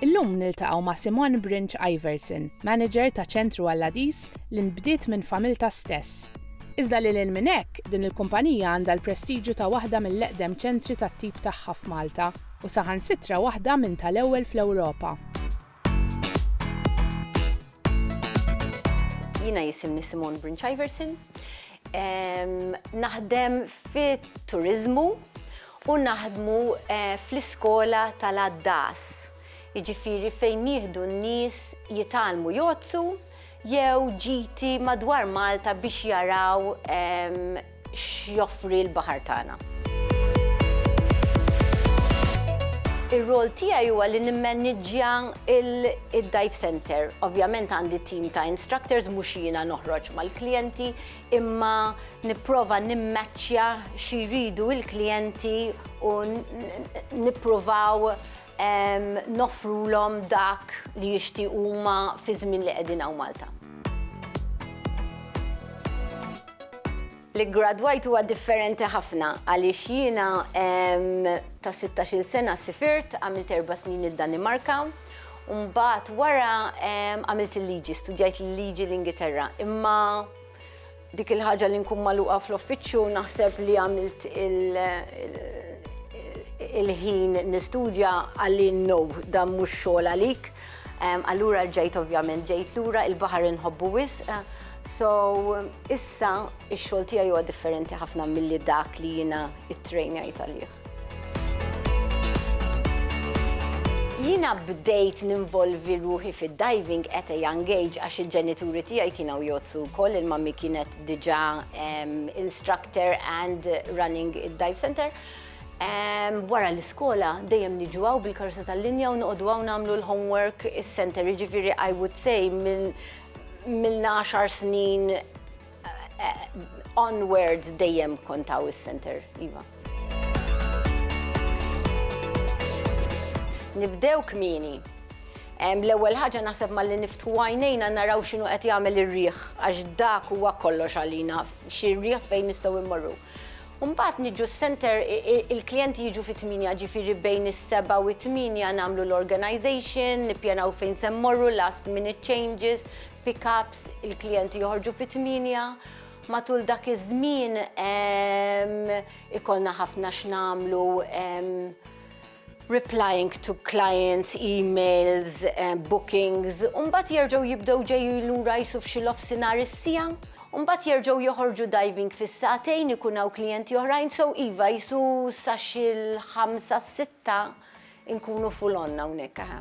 Illum niltaqgħu ma' Simone Brinch Iverson, manager ta' Ċentru Alladis li nbdiet minn familtha stess. Iżda lil hinn minn hekk, din il-kumpanija għandha l-prestiġju ta' waħda mill-eqdem ċentri tat-tip tagħha f'Malta u saħansitra waħda minn tal-ewwel fl-Ewropa. Jiena jisimni Simone Brinchiverson. Naħdem fit-turiżmu u naħdmu eh, fl-iskola tal-għaddas. Jiġifieri fejn nieħdu n-nies jitalmu jozzu jew ġiti madwar Malta biex jaraw x'joffri l-baħar tagħna. Ir-rwol tiegħi huwa li nimmaniġġja d-dive center. Ovvjament għandi tim ta' instructors mhux jiena noħroġ mal-klijenti, imma nipprova nimmaċċja xi jridu l-klijenti u nippruvaw noffrulhom dak li jixtiequ huma fiż-żmien li qegħdin hawn Malta. L-iggradwajt huwa differenti ħafna għaliex jiena ta' 16-il sena sifirt, għamilt erba' snin id-Danimarka, u mbagħad wara għamilt il-liġi, studjajt il-liġi l-Ingilterra. Imma dik il-ħaġa li nkun magħluqa fl-uffiċċju naħseb li għamilt il-ħin nistudja għalli no, dan mhux xogħol għalik. Allura rġajt ovvjament ġejt lura il-baħar inħobbu wisq. So issa ix-xogħol tiegħi huwa differenti ħafna milli dak li jiena ittrejnajt għalih. Jiena bdejt ninvolvi ruħi fid-diving at a young age għax il-ġenituri tiegħi kienu jgħoddsu wkoll, il-mummy kienet diġà instructor and running id-dive centre. Wara l-iskola dejjem niġu hawn bil-karozza tal-linja u noqogħdu hawn nagħmlu l-homework is-center, jiġifieri I would say milna għaxar snin eh, onwards dejjem kontaw is-center, iva. Nibdew kmini. L-ewwel ħaġa naħseb malli niftħu għajnejna naraw x'inhu qed jagħmel ir-riħ għax dak huwa kollox għalina xi riħ fejn nistgħu immorru. U mbagħad niġu s-center, il-klijenti jiġu fit-tmienja, ġifieri bejn is-sebgħa u t-tmienja nagħmlu l-organization, nippjanaw fejn se mmorru, last minute changes, pick-ups, il-klijenti joħorġu fit-tmienja. Matul dak iż-żmien ikollna ħafna x'nagħmlu, replying to clients, emails, bookings, u mbagħad jerġgħu jibdew ġejjin lura qisu f'xi l-ofsinhar is-siegħa, u mbagħad jerġgħu joħorġu diving fis-sagħtejn ikun hawn klijenti oħrajn, so iva qisu sa xi l-ħamsa s-sitta nkunu full on hawnhekk eħe.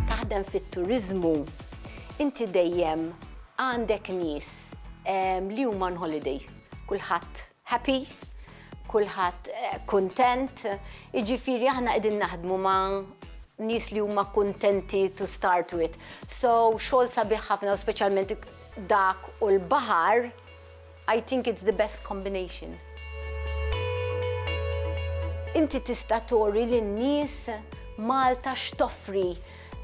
Taħdem fit-turiżmu inti dejjem għandek nies li huma on holiday, kulħadd happy, kulħadd kuntent, jiġifieri aħna qegħdin naħdmu ma' nies li huma kuntenti to start with. So xogħol sabiħ ħafna u speċjalment dak u l-baħar, I think it's the best combination. Inti tista' turi lin-nies Malta x'toffri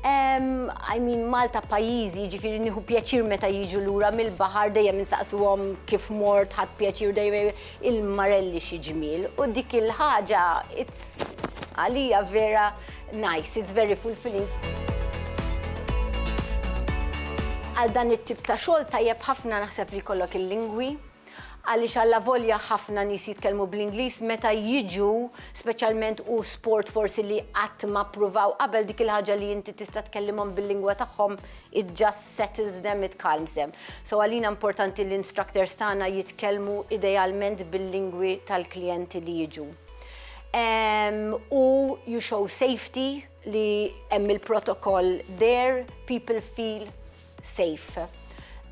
I mean Malta pajjiżi, jiġifieri nieħu pjaċir meta jiġu lura mill-baħar dejjem insaqsuhom kif mort ħadd pjaċir dejjem il-marelli xi ġmiel. U dik il-ħaġa għalija vera nice, it's very fulfilling. Għal dan it-tip ta' xogħol tajjeb ħafna naħseb li jkollok il-lingwi, Għaliex allavolja ħafna nies jitkellmu bl-Ingliż meta jiġu, speċjalment hu sport forsi li qatt ma ppruvaw qabel, dik il-ħaġa li inti tista' tkellimhom bil-lingwa tagħhom it just settles them, it calms them. So għalina importanti li l-instructors tagħna jitkellmu idealment bil-lingwi tal-klijenti li jiġu. Ehm, u you show safety li hemm il-protokoll there, people feel safe.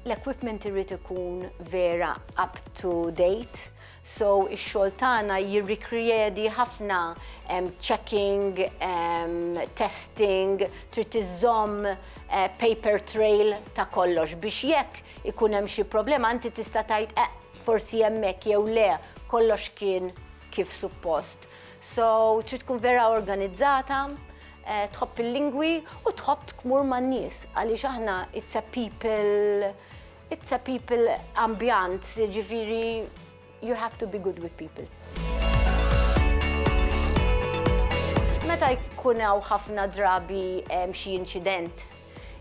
L-equipment irrid ikun vera up to date, so ix-xogħol tagħna jirrikriedi ħafna checking, testing, trid tiżomm eh, paper trail ta' kollox biex jekk ikun hemm xi problema inti tista' tgħid eh, forsi hemmhekk jew le kollox kien kif suppost. So trid tkun vera organizzata, eh, tħobb il-lingwi u tħobb tmur man-nies għaliex aħna it's a people it's a people ambjant, ġifieri you have to be good with people. Meta jkun hawn ħafna drabi xi inċident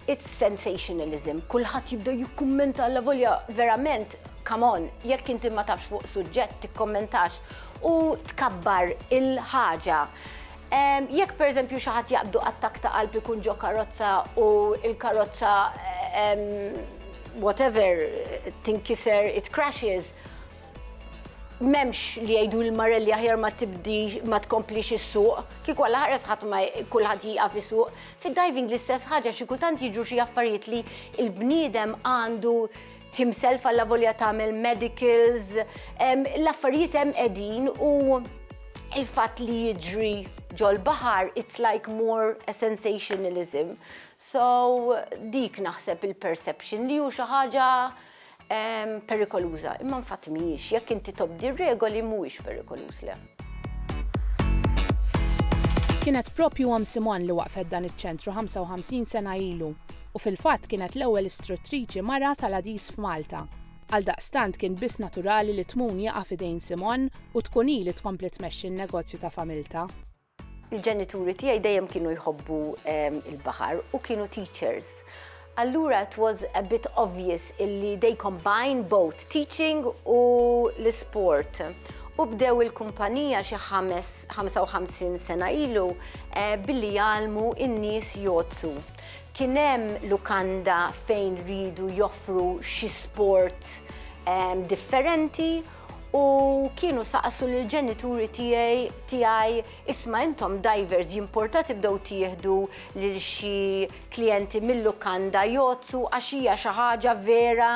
It's sensationalism, kulħadd jibda jikkummenta allavolja verament, come on, jekk inti ma tafx fuq suġġett tikkommentax u tkabbar il-ħaġa. Jekk pereżempju xi ħadd jaqbdu attakk ta' qalb ikun ġo karozza u l-karozza whatever tinkiser it crashes, m'hemmx li jgħidu lil Marelli aħjar ma tibdix ma tkomplix issuq, kieku Alla ħares ħadd ma kulħadd jieqaf isuq, Fid-diving l-istess ħaġa, xi kultant jiġru xi affarijiet li l-bniedem għandu himself allavolja tagħmel medicals, l-affarijiet hemm qegħdin u il-fatt li jiġri ġol-baħar, it's like more a sensationalism. So, dik naħseb il-perception li hu xi ħaġa Perikoluża, imma infatti mhijiex. Jekk inti tobdi r-regoli mhuwiex perikoluż, le. Kienet proprju Omm Simon li waqqfet dan iċ-ċentru 55 sena ilu u fil-fatt kienet l-ewwel istruttriċi mara tal-għadis f'Malta. Għaldaqstant kien biss naturali li Tmun jaqa' f'idejn Simon u tkun hi li tkompli tmexxi n-negozju ta' familtha. Il-ġenituri tiegħi dejjem kienu jħobbu il-baħar u kienu teachers. Allura it was a bit obvious illi they combine both teaching u l-sport. U bdew il-kumpanija xi 55 sena ilu eh, billi jgħalmu in-nies jozzu. Kien hemm lukanda fejn ridu joffru xi sport eh, differenti u kienu saqsu l ġenituri tiegħi tiegħi isma' intom divers jimporta tibdew tieħdu lil xi klijenti mill-lukanda jozzu għax hija xi ħaġa vera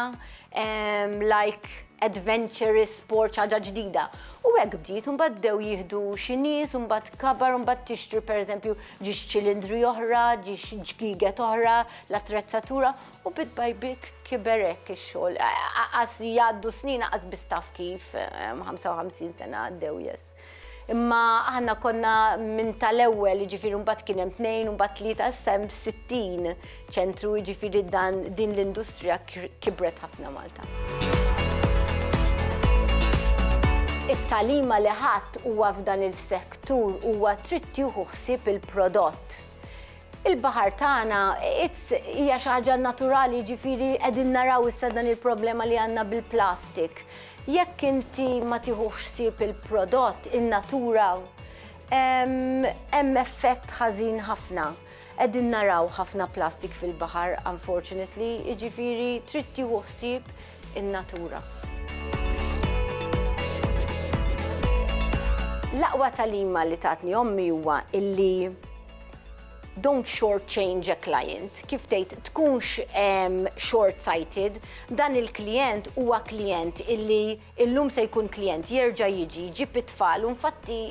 ehm, like adventurous sport ħaġa ġdida. U hekk bdiet un bdew jieħdu xi nies un bad kabar un bad tixtri pereżempju ġiex ċilindri oħra, ġiex ġgiget oħra, l-attrezzatura U bit-tbajbit kiber hekk ix-xogħol. Għas jgħaddu snin għas biss taf kif 55 sena għaddew jess. Imma aħna konna minn tal-ewwel, jiġifieri mbagħad kien hemm tnejn u mbagħad tlieta issa hemm 60 ċentru jiġifieri dan din l-industrija kibret ħafna Malta. It-talima li ħadd huwa f'dan il-sektur huwa trid tieħu ħsieb il-prodott Il-baħar tagħna it's hija xi ħaġa naturali jiġifieri qegħdin naraw issa dan il-problema li għandna bil-plastik. Jekk inti ma tieħux sib il-prodott in-natura hemm effett ħażin ħafna. Qegħdin naraw ħafna plastik fil-baħar unfortunately, jiġifieri trid tieħu ħsieb in-natura. L-aqwa talima li tatni ommi huwa illi Don't short change a client, kif tgħid tkunx short sighted, dan il-klijent huwa klijent illi illum se jkun klijent jerġa' jiġi jġib it-tfal u nfatti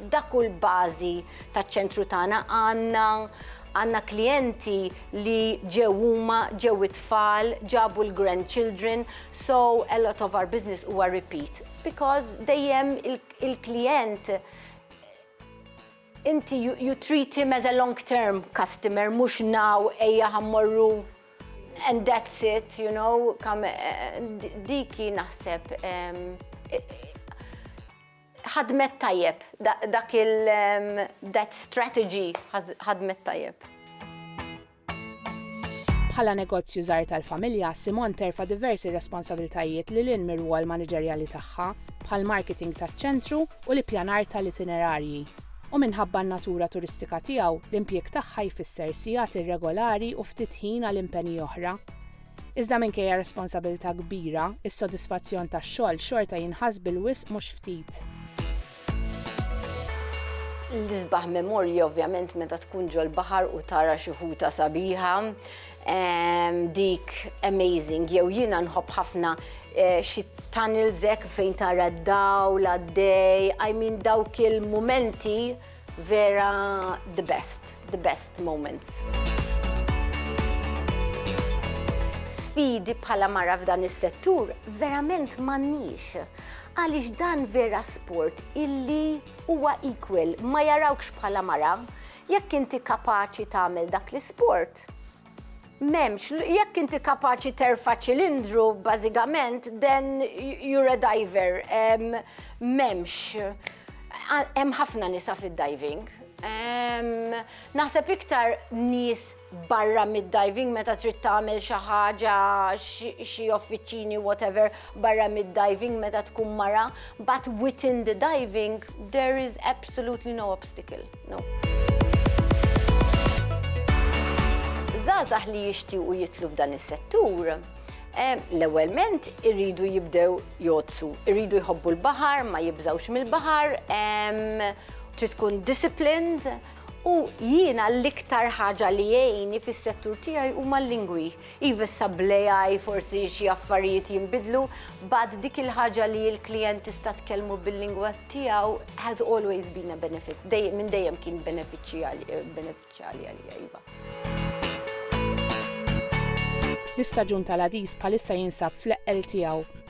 dak hu l-bażi taċ-ċentru tagħna għandna għandna klijenti li ġew huma, ġew it-tfal, ġabu l-grandchildren, so a lot of our business huwa repeat because dejjem il-klijent Inti you treat him as a long term customer mhux now ejja ħa mmorru and that's it you know dik hi naħseb ħadmet tajjeb dak il that strategy ħadmet tajjeb. Bħala negozju żgħir tal-familja, Simone terfa' diversi responsabilitajiet lil hinn mir-rwol maniġerjali tagħha, bħall-marketing taċ-ċentru u l-ippjanar tal-itinerarji. U minħabba n-natura turistika tiegħu, l-impjieg tagħha jfisser sigħat irregolari u ftit ħin għal impenji oħra. Iżda minkejja responsabilità kbira, is-sodisfazzjon tax-xogħol xorta jinħass bil-wisq mhux ftit. L-isbaħ memorja ovvjament meta tkun ġol-baħar u tara xi ħuta sabiħa, dik amazing, jew jiena nħobb ħafna eh, xi tanilżek fejn tara d-daw, l-għaddej, I mean dawk il-momenti vera the best, the best moments. Sfidi bħala mara f'dan is-settur verament m'għandniex Għaliex dan vera sport illi huwa equal, ma jarawkx bħala mara, jekk inti kapaċi tagħmel dak l-isport, Memx, jekk inti kapaċi terfa ċilindru, bażikament, then you're a diver. Memx, hemm ħafna nisa fid-diving. Naħseb iktar nies barra mid-diving meta trid tagħmel xi ħaġa xi offiċini whatever barra mid-diving meta tkun mara, but within the diving there is absolutely no obstacle. No. żgħażagħ li jixtiequ jitlu f'dan is-settur eh, l-ewwelment irridu jibdew jozzu, irridu jħobbu l-baħar, ma jibżawx mill-baħar, trid tkun disciplined, U jiena l-iktar ħaġa li jgħinni fis-settur tiegħi huma l-lingwi. Iva issa bl-AI forsi xi affarijiet jinbidlu, but dik il-ħaġa li l-klijent tista' tkellmu bil-lingwa tiegħu has always been a benefit, minn dejjem kien benefiċjali għalija iva. L-istaġun tal-għadis bħalissa jinsab fl-eqqel tiegħu.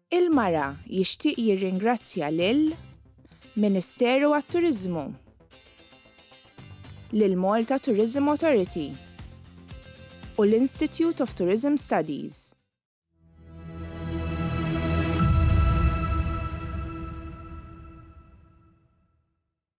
Il-Mara jixtieq jirringrazzja lil Ministeru għat-Turiżmu, lill-Malta Tourism Authority u l-Institute of Tourism Studies.